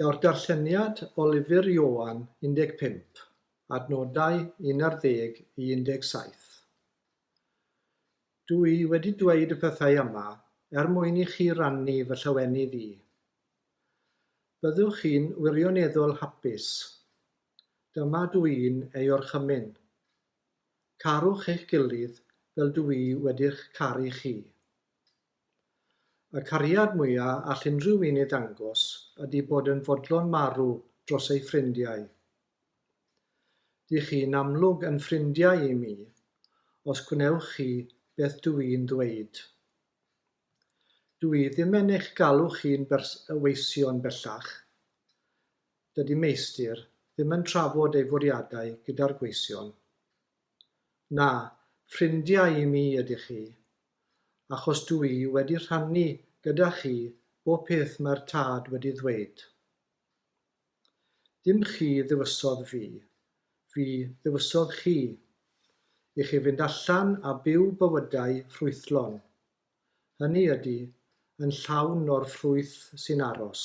Daw'r darlleniad o lyfr Ioan 15, adnodau 11 i 17. Dw i wedi dweud y pethau yma er mwyn i chi rannu fy llawenydd i. Byddwch chi'n wirioneddol hapus. Dyma dw i'n ei orchymyn. Carwch eich gilydd fel dw i wedi'ch caru chi. Y cariad mwya all unrhyw un ei ddangos ydi bod yn fodlon marw dros ei ffrindiau. Dych chi'n amlwg yn ffrindiau i mi, os gwnewch chi beth dw i'n ddweud. Dw i ddim yn eich galw chi'n weision bellach. Dydi Meistr ddim yn trafod ei fwriadau gyda'r gweision. Na, ffrindiau i mi ydych chi, achos dw i wedi rhannu gyda chi bob peth mae'r Tad wedi ddweud. Dim chi ddewisodd fi, fi ddewisodd chi, i chi fynd allan a byw bywydau ffrwythlon, hynny ydy, yn llawn o'r ffrwyth sy'n aros.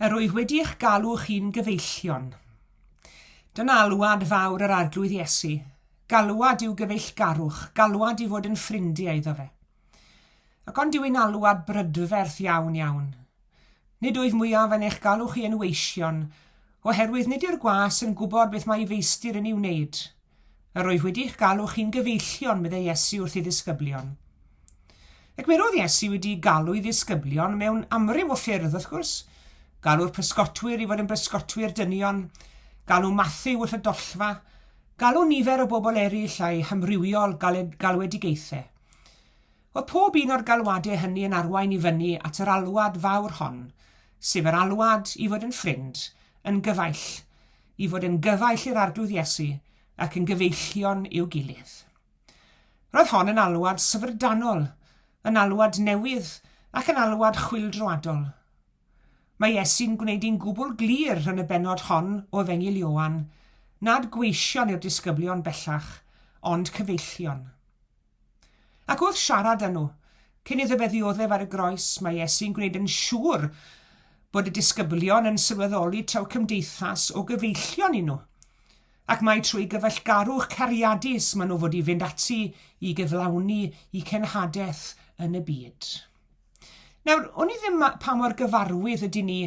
Yr wyf wedi eich galw chi'n gyfeillion. Dyna alwad fawr yr Arglwydd Iesu, galwad i'w gyfeillgarwch, galwad i fod yn ffrindiau iddo fe. Ac ond yw'n alwad brydferth iawn iawn. Nid wyf mwyaf yn eich galw chi yn weision, oherwydd nid yw'r gwas yn gwybod beth mae ei feistir yn ei wneud, Yr wyf wedi eich galw chi'n gyfeillion, meddai Iesu wrth ei ddisgyblion. Ac mi roedd Iesu wedi galw ei ddisgyblion mewn amryw o ffyrdd, wrth gwrs. Galw'r pysgotwyr i fod yn bysgotwyr dynion, galw Matthew wrth y dollfa, galw nifer o bobl eraill a'i hamrywiol galwedigaethau. Oedd pob un o'r galwadau hynny yn arwain i fyny at yr alwad fawr hon, sef yr alwad i fod yn ffrind, yn gyfaill, i fod yn gyfaill i'r Arglwydd Iesu ac yn gyfeillion i'w gilydd. Roedd hon yn alwad syfrdanol, yn alwad newydd ac yn alwad chwyldroadol. Mae Iesu'n gwneud hi'n gwbl glir yn y bennod hon o Efengyl Ioan nad gweision yw'r disgyblion bellach, ond cyfeillion. Ac wrth siarad â nhw, cyn iddo fe ddioddef ar y groes, mae Iesu'n gwneud yn siŵr bod y disgyblion yn sylweddoli taw cymdeithas o gyfeillion y'n nhw, ac mai trwy gyfeillgarwch cariadus maen nhw fod i fynd ati i gyflawni i cenhadaeth yn y byd. Nawr, o'n i ddim ma- pa mor gyfarwydd ydyn ni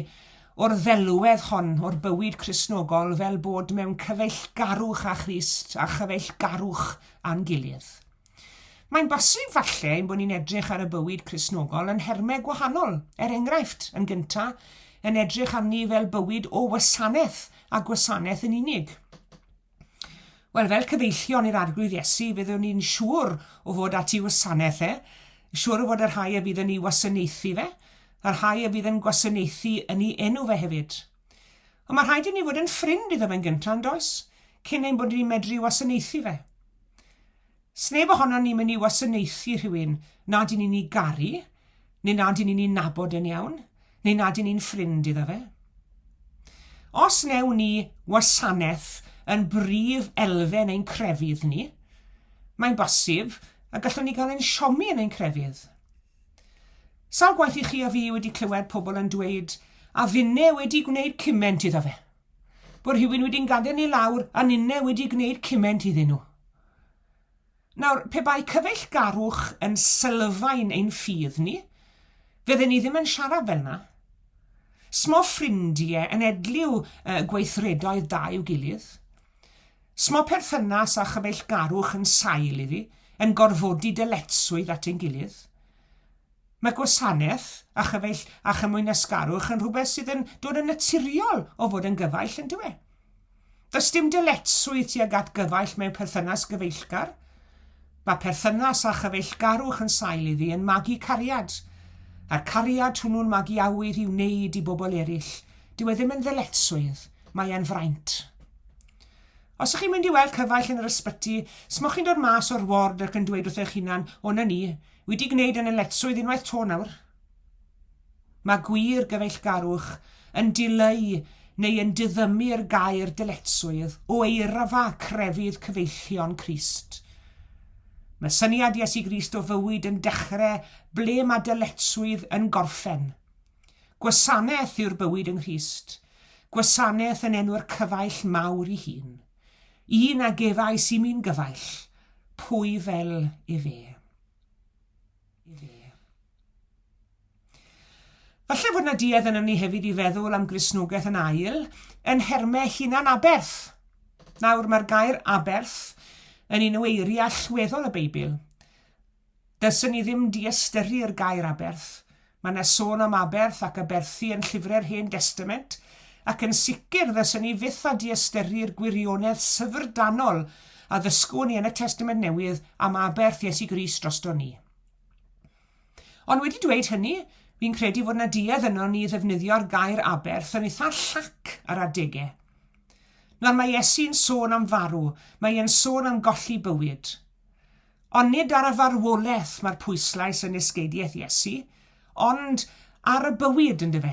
o'r ddelwedd hon o'r bywyd Cristnogol fel bod mewn cyfeillgarwch â Christ a chyfeillgarwch â'n gilydd. Mae'n bosib falle ein bod ni'n edrych ar y bywyd Cristnogol yn nhermau gwahanol, er enghraifft, yn gynta, yn edrych arni fel bywyd o wasanaeth a gwasanaeth yn unig. Wel, fel cyfeillion i'r Arglwydd Iesu, fyddwn ni'n siŵr o fod at i wasanaeth e, siŵr o fod y rhai a fydd yn ei wasanaethu fe, y rhai a fydd yn gwasanaethu yn ei enw fe hefyd. Ond mae rhaid i ni fod yn ffrind iddo fe'n gyntaf, yn does? Cyn ein bod ni'n medru wasanaethu fe. Sneb ohonon ni'n mynd i wasanaethu rhywun nad y'n ni'n 'i garu, neu nad y'n ni'n 'i nabod e'n iawn, neu nad y'n ni'n ffrind iddo fe. Os wnewn ni wasanaeth yn brif elfen ein crefydd ni, mae'n bosib y gallwn ni gael ein siomi yn ein crefydd. Sawl gwaith i chi a fi wedi clywed pobl yn dweud, a finne wedi gwneud cyment iddo fe. bod rhywun wedi'n gadael ni lawr a ninne wedi gwneud cyment iddyn nhw. Nawr, pe bai cyfeillgarwch yn sylfaen ein ffydd ni, fydden ni ddim yn siarad fel na. Smo ffrindie yn edliw uh, gweithredoedd da i'w gilydd. Smo perthynas a chyfeillgarwch yn sail iddi, yn gorfodi dyletswydd at ein gilydd. Mae gwasanaeth a chyfaill a chymwynasgarwch yn rhywbeth sydd yn dod yn naturiol o fod yn gyfaill, yn dyw e? Does dim dyletswydd tuag at gyfaill mewn perthynas gyfeillgar. Mae perthynas â chyfeillgarwch yn sail iddi yn magu cariad, a'r cariad hwnnw'n magu awydd i wneud i bobl eraill. Dyw e ddim yn ddyletswydd, mae e'n fraint. Os ych chi'n mynd i weld cyfaill yn yr ysbyty, smwch chi'n dod mas o'r ward ac yn dweud wrth eich hunan, O 'na ni, Wedi gwneud yn y letrwydd unwaith to nawr. Mae gwir gyfeillgarwch yn dileu neu yn diddymu'r gair dyletswydd o eirafa crefydd cyfeillion Crist. Mae syniad Iesu Grist o fywyd yn dechrau ble mae dyletswydd yn gorffen. Gwasanaeth yw'r bywyd yng Nghrist, gwasanaeth yn enw'r cyfaill mawr i hun. Un a gefais i mi'n gyfaill, pwy fel efe. Falle fod na duedd yn ni hefyd i feddwl am Gristnogaeth yn ail yn nhermau hunan-aberth. Nawr, mae'r gair aberth yn un o eiriau allweddol y Beibl, Dylsen ni ddim diystyrru'r gair aberth. Mae 'na sôn am aberth ac aberthu yn llyfre'r Hen Destament, ac yn sicr ddylsen ni fyth â diystyrru'r gwirionedd syfrdanol a ddysgwn ni yn y Testament Newydd am aberth Iesu Grist drosto ni. Ond wedi dweud hynny, fi'n credu fod 'na duedd ynon ni i ddefnyddio'r gair aberth yn eitha llac ar adegau. Nawr, mae Iesu'n sôn am farw, mae e'n sôn am golli bywyd. Ond nid ar y farwolaeth mae'r pwyslais yn esgeidiaeth Iesu, ond ar y bywyd, yn dyfe?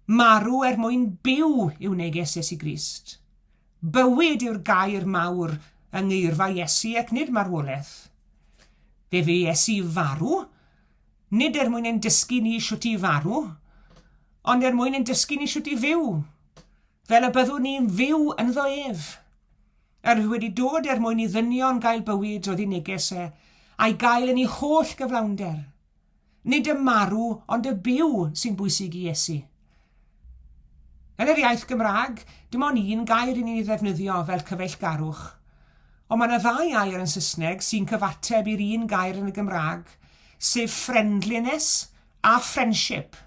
Marw er mwyn byw yw neges Iesu Grist. Bywyd yw'r gair mawr yng ngeirfa Iesu ac nid marwolaeth. Fe fu Iesu farw, nid er mwyn ein dysgu ni shwt i farw, ond er mwyn ein dysgu ni shwt i fyw, fel y byddwn ni'n fyw ynddo ef. Yr oedd wedi dod er mwyn i ddynion gael bywyd oedd i neges e, a'i gael yn ei holl gyflawnder. Nid y marw, ond y byw sy'n bwysig i Iesu. Yn yr iaith Gymraeg, dim ond un gair i ni ddefnyddio fel cyfeillgarwch. Ond mae yna ddau air yn Saesneg sy'n cyfateb i'r un gair yn y Gymraeg, sef friendliness a friendship.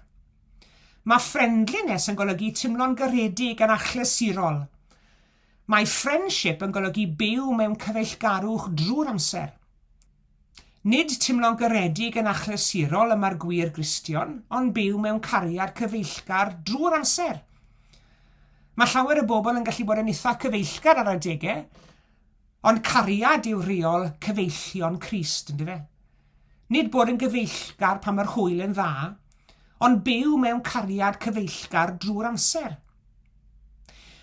Mae friendliness yn golygu timlo'n garedig yn achlysurol. Mae friendship yn golygu byw mewn cyfeillgarwch drwy'r amser. Nid timlo'n garedig yn achlysurol y mae'r gwir Gristion, ond byw mewn cariad cyfeillgar drwy'r amser. Mae llawer o bobl yn gallu bod yn eitha cyfeillgar ar adegau, ond cariad yw rheol cyfeillion Crist, yn dyfe? Nid bod yn gyfeillgar pan mae'r hwyl yn dda, ond byw mewn cariad cyfeillgar drwy'r amser.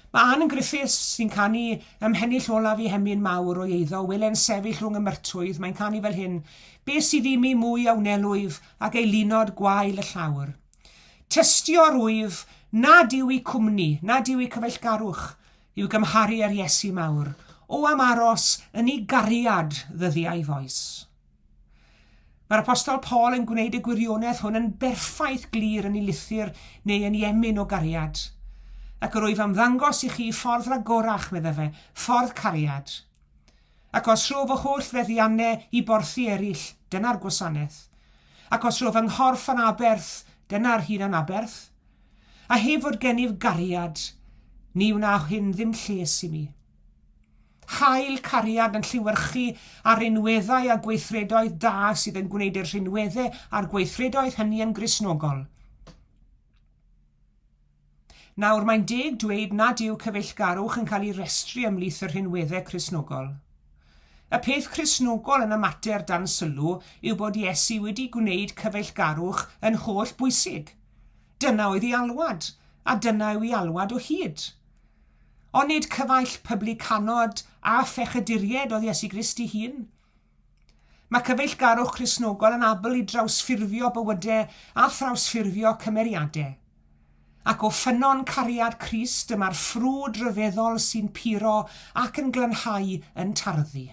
Mae Ann yn Griffiths, sy'n canu ym Mhennill Olaf i Hemyn Mawr o'i eiddo, Wele'n sefyll rhwng y myrtwydd, mae'n canu fel hyn, Be sydd i mi mwy a wnelwyf ag ei lunod gwael y llawr? Tystio rwyf, nad yw i cwmni, nad yw i cyfeillgarwch, I'w gymharu â'r Iesu mawr. O am aros yn ei gariad ddyddiau foes. Mae'r apostol Paul yn gwneud y gwirionedd hwn yn berffaith glir yn ei lythyr neu yn ei emyn o gariad. Ac yr wyf am ddangos i chi ffordd ragorach, medda fe, ffordd cariad. Ac os rho fy holl feddiannau i borthi eraill, dyna'r gwasanaeth. Ac os rho fy nghorff yn aberth, dyna'r hun anaberth. A heb fod gennyf gariad, ni wna hyn ddim lles i mi. Hael cariad yn lliwyrchu ar rinweddau a gweithredoedd da sydd yn gwneud i'r rhinweddau a'r gweithredoedd hynny yn Gristnogol. Nawr, mae'n deg dweud nad yw cyfeillgarwch yn cael ei restru ymhlith y rhinweddau Cristnogol. Y peth Cristnogol yn y mater dan sylw yw bod Iesu wedi gwneud cyfeillgarwch yn holl bwysig. Dyna oedd ei alwad, a dyna yw ei alwad o hyd. Onid cyfaill pyblycanod a phechyduried oedd Iesu Grist ei hun? Mae cyfeillgarwch Crisnogol yn abl i drawsffurfio bywydau a thrawsffurfio cymeriadau. Ac o ffynnon cariad Crist y mae'r ffrwd ryfeddol sy'n puro ac yn glanhau yn tarddu.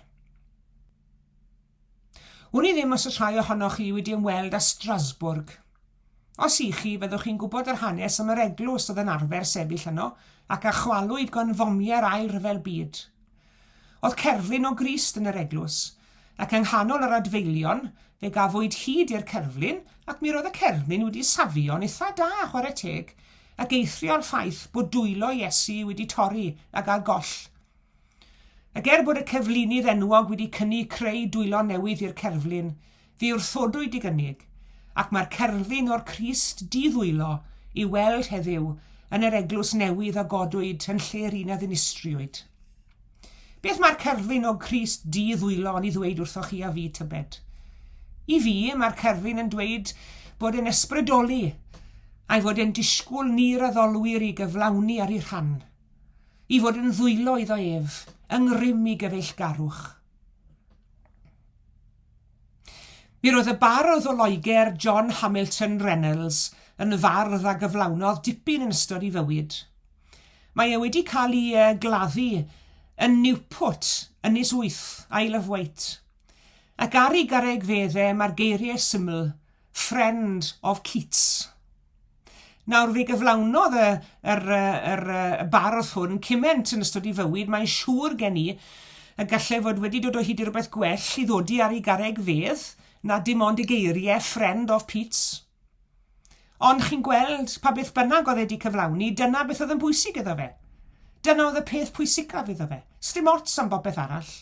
Wn i ddim os oes rhai ohonoch chi wedi ymweld â Strasbourg. Os i chi, fyddwch chi'n gwybod yr hanes am yr eglwys oedd yn arfer sefyll yno ac a chwalwyd gan fomiau'r Ail Ryfel Byd. Oedd cerflun o Grist yn yr eglwys, ac yng nghanol yr adfeilion, fe gafwyd hyd i'r cerflun ac mi roedd y cerflun wedi safio'n itha da, chwarae teg, ac eithrio ar ffaith bod dwylo Iesu wedi torri a gael goll. Ac er bod y cerflunydd enwog wedi cynnig creu dwylo newydd i'r cerflun, fe wrthodwyd i gynnig, ac mae'r cerflun o'r Crist di-ddwylo i'w weld heddiw yn yr eglwys newydd a godwyd yn lle'r un a ddinistriwyd. Beth mae'r cerflun o Grist di-ddwylo yn ei ddweud wrthoch chi a fi, tybed? I fi, mae'r cerflun yn dweud bod e'n ysbrydoli, a'i fod e'n disgwyl ni'r addolwyr i gyflawni ar ei rhan. i fod yn ddwylo iddo ef yng ngrym i gyfeillgarwch. Mi roedd y bardd o Loegr, John Hamilton Reynolds, yn fardd a gyflawnodd dipyn yn ystod ei fywyd. Mae e wedi cael ei uh, gladdu yn Newport, Ynys Wyth, Isle of Wight. Ac ar ei garreg fedde mae'r geiriau syml, Friend of Keats. Nawr, fe gyflawnodd y, yr, yr, y bardd hwn cyment yn ystod ei fywyd, mae'n siŵr gen i y gallai fod wedi dod o hyd i rywbeth gwell i ddodi ar ei garreg fedd na dim ond y geiriau friend of Pete's. Ond chi'n gweld, pa beth bynnag oedd e wedi cyflawni, dyna beth oedd yn bwysig iddo fe. Dyna oedd y peth pwysicaf iddo fe. Sdim ots am bopeth arall.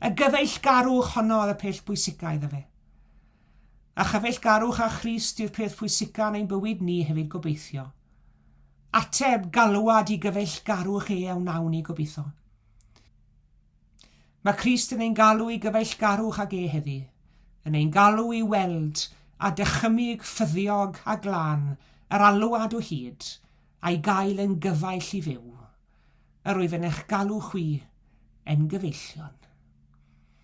Y gyfeillgarwch honno oedd y peth bwysicaf iddo fe. A chyfeillgarwch â Christ yw'r peth pwysica yn ein bywyd ni hefyd gobeithio. Ateb, galwad i gyfeillgarwch e a wnawn ni gobeithio. Mae Crist yn ein galw i gyfeillgarwch ag e heddi, yn ein galw i weld a dychymyg ffyddiog a glân yr alwad o hyd, a'i gael yn gyfaill i fyw. Yr wyf yn eich galw chwi, en gyfeillion.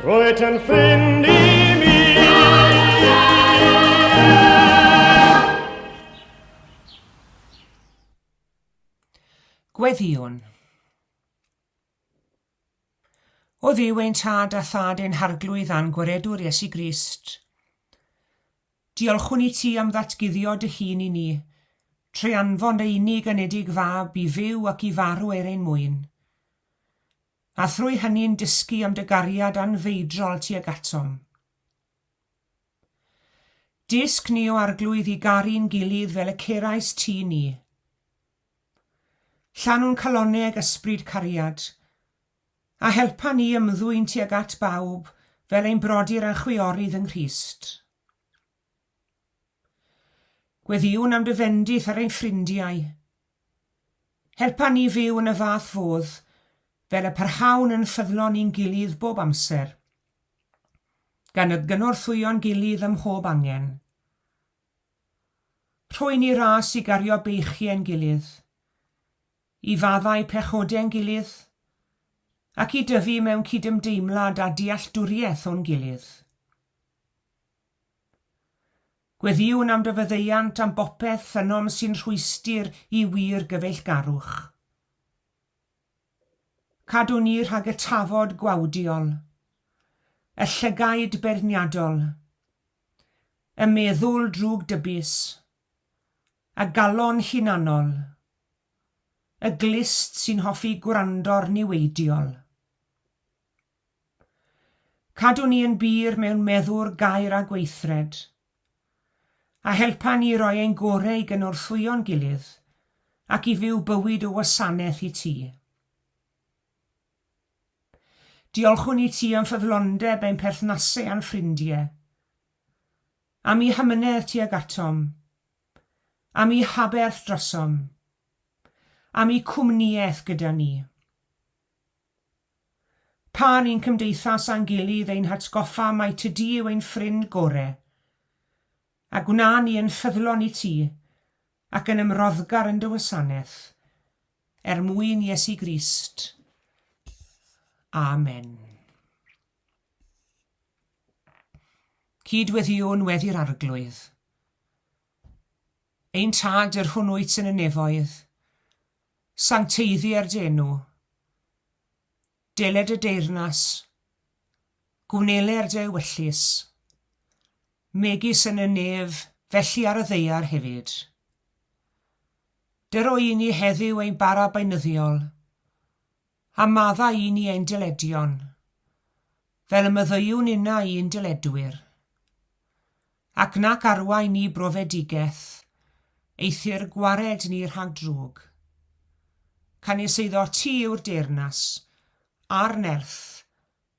Roed yn ffrind i mi. Gweddïwn. O Dduw ein Tad a Thad ein Harglwydd a'n Gwaredwr Iesu Grist, diolchwn i ti am ddatguddio dy hun i ni, trwy anfon dy unig anedig fab i fyw ac i farw er ein mwyn. a thrwy hynny'n dysgu am dy gariad anfeidrol tuag atom. Dysg ni o arglwydd i garu'n gilydd fel y cerais ti ni. Llanw'n calonau ag ysbryd cariad, a helpa ni ymddwyn tuag at bawb fel ein brodyr a chwiorydd yng Nghrist. Gweddïwn am dy fendith ar ein ffrindiau. Helpa ni fyw yn y fath fodd fel y parhawn yn ffyddlon i'n gilydd bob amser, gan y gynorthwyo'n gilydd ym mhob angen. Rhoi ni ras i gario beichie'n gilydd, i faddau pechodau'n gilydd, ac i dyfu mewn cydymdeimlad a dealltwriaeth o'n gilydd. Gweddïwn am dy faddeuant am bopeth ynom sy'n rhwystr i wir gyfeillgarwch. Cadw ni rhag y tafod gwawdiol, y llygaid beirniadol, y meddwl drwg dybis, y galon hunanol, y glust sy'n hoffi gwrando'r niweidiol. Cadw ni yn bur mewn meddwr, gair a gweithred. A helpa ni roi ein gore i gynorthwyo'n gilydd ac i fyw bywyd o wasanaeth i ti. Diolchwn i ti am ffyddlondeb ein perthnasau a'n ffrindie. Am i hamynedd tuag atom. Am i haberth drosom. Am i cwmniaeth gyda ni. Pan ni'n cymdeithas â'n gilydd ein hatgoffa mai ty di yw ein ffrind gore, a gwna ni yn ffyddlon i ti, ac yn ymroddgar yn dy wasanaeth, er mwyn Iesu Grist. Amen. Cyd-weddiwn weddi'r Arglwydd. Ein Tad, yr hwn wyt yn y nefoedd, Sancteiddi er d'enw. Deled y deyrnas. Gwnele er dy ewyllys. Megis yn y nef, felly ar y ddaear hefyd. Dy roi i ni heddyw ein bara beunyddiol. A maddau i ni ein dyledion, fel y myddeuwn inna i'n dyledwyr. Ac nac arwain ni brofedigeth, eithr gwared ni rhag drwg. Canys eiddo ti yw'r deyrnas, a'r nerth,